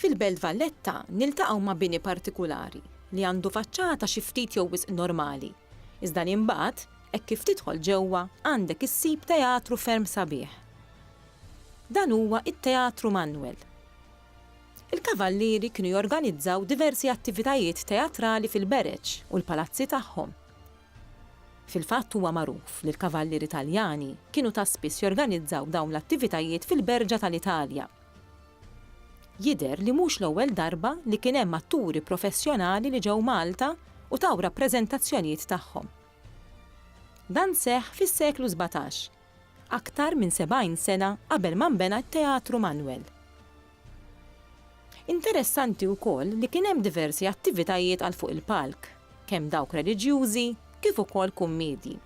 Fil-Belt Valletta niltaqgħu ma' bini partikulari li għandu faċċata xi ftit jew wisq normali, iżda li mbagħad, hekk kif tidħol ġewwa, għandek issib teatru ferm sabiħ. Dan huwa t-Teatru Manwel. Il-Kavallieri kienu jorganizzaw diversi attivitajiet teatrali fil-bereġ u l-palazzi tagħhom. Fil-fatt huwa magħruf li l-kavallieri Taljani kienu ta' spiss jorganizzaw dawn l-attivitajiet fil-berġa tal-Italja. Jidher li mhux l-ewwel darba li kien hemm atturi professjonali li ġew Malta u taw rappreżentazzjonijiet tagħhom. Dan seħħ fis-seklu sbatax. Aktar minn 70 sena qabel ma nbena t-Teatru Manwel. Interessanti wkoll li kien hemm diversi attivitajiet għal fuq il-palk, kemm dawk reliġjużi kif ukoll kummedji.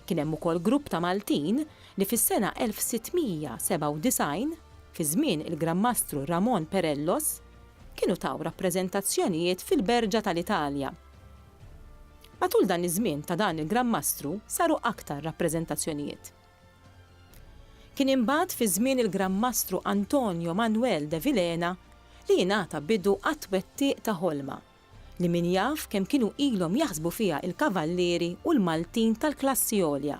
Kien hemm ukoll grupp ta' Maltin li fis-sena 1697, fi żmien il-Gran Mastru Ramon Perellos, kienu taw rappreżentazzjonijiet fil-Berġa tal-Italja. Matul dan iż-żmien ta' dan il-Gran Mastru saru aktar rappreżentazzjonijiet. Kien imbagħad fi żmien il-Gran Mastru Antonio Manuel de Vilhena li jingħata bidu għat-twettiq ta' ħolma li min jaf kemm kienu ilhom jaħsbu fiha il-kavallieri u l-Maltin tal-klassi għolja.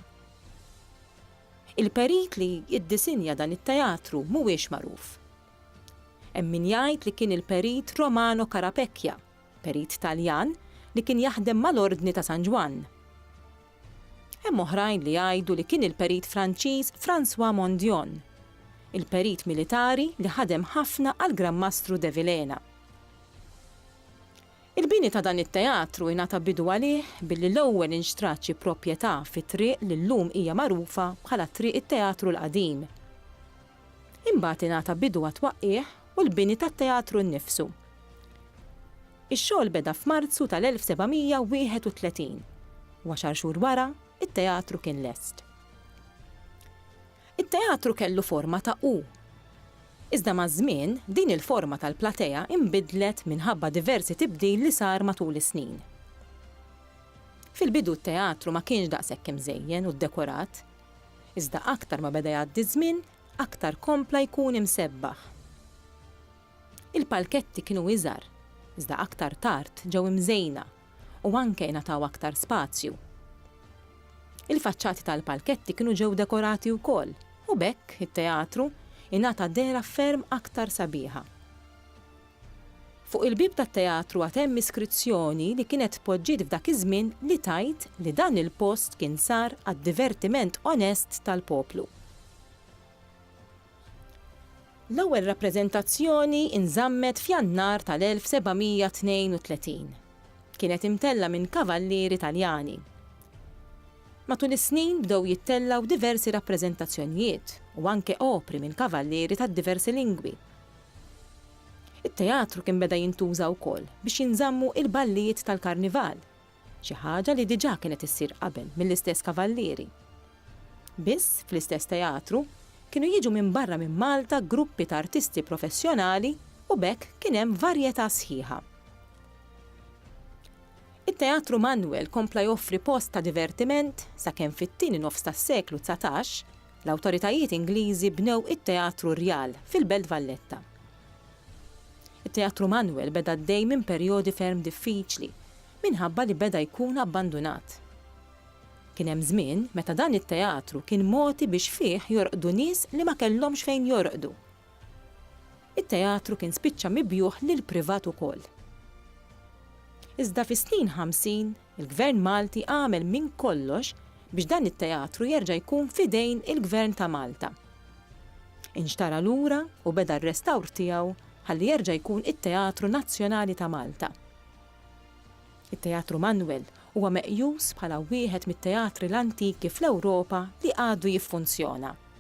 Il-perit li iddisinja dan it-teatru mhuwiex magħruf. Hemm min jgħid li kien il-perit Romano Carapecchia, Perit Taljan li kien jaħdem mal-Ordni ta' San Ġwann. Hemm oħrajn li jgħidu li kien il-perit Franċiż François Mondion, il-perit militari li ħadem ħafna għall-Gran Mastru de Vilhena. Il-bini ta' dan it-teatru ingħata bidu għalih billi l-ewwel inxtrat xi proprjetà fit-triq li llum hija magħrufa bħala Triq it-Teatru l-Qadim. Imbagħad ingħata bidu għat-twaqqigħ u l-bini tat-teatru nnifsu. Ix-xogħol beda f'Marzu tal-1731, u għaxar xhur wara, it-teatru kien lest. It-teatru kellu forma ta' U. Iżda maż-żmien, din il-forma tal-platea inbidlet minħabba diversi tibdil li sar matul is-snin. Fil-bidu t-teatru ma kienx daqshekk imżejjen u ddekorat, Iżda aktar ma beda jgħaddi ż-żmien, aktar kompla jkun imsebbaħ. Il-palketti kienu iżgħar, iżda aktar tard ġew imżejna u anke ingħataw aktar spazju. Il-faċċati tal-palketti kienu ġew dekorati wkoll u b'hekk it-teatru ingħata dehra ferm aktar sabiħa. Fuq il-bieb tat-teatru għad hemm iskrizzjoni li kienet tpoġġiet f'dak iż-żmien li tgħid li dan il-post kien sar għad-divertiment onest tal-poplu. L-ewwel rappreżentazzjoni nżammet f'Jannar tal-1732. Kienet imtellgħa minn kavallieri Taljani. Matul is-snin bdew jittellgħu diversi rappreżentazzjonijiet u anke opri minn kavallieri tad-diversi lingwi. It-teatru kien beda jintuża wkoll biex jinżammu il-ballijiet tal-karnival, xi ħaġa li diġà kienet issir qabel mill-istess kavallieri. Biss, fl-istess teatru, kienu jiġu minn barra minn Malta gruppi ta' artisti professjonali u b'hekk kien hemm varjetà sħiħa. It-Teatru Manwel kompla joffri post ta' divertiment sakemm fit-tieni nofs tas-seklu dsatax, l-awtoritajiet Ingliżi bnew it-Teatru Rjal fil-Belt Valletta. It-Teatru Manuel beda għaddej minn perjodi ferm diffiċli minħabba li beda jkun abbandunat. Kien hemm żmien meta dan it-teatru kien mogħti biex fih jorqdu nies li ma kellhomx fejn jorqdu. It-teatru kien spiċċa mibjugħ lill-privat ukoll. Iżda fis-snin ħamsin Il-Gvern Malti għamel minn kollox biex dan it-teatru jerġa' jkun f'idejn il-Gvern ta' Malta. Inxtara lura u beda r-restawr tiegħu ħalli jerġa' jkun it-Teatru Nazzjonali ta' Malta. It-Teatru Manwel huwa meqjus bħala wieħed mit-teatri l-antiki fl-Ewropa li għadu jiffunzjona.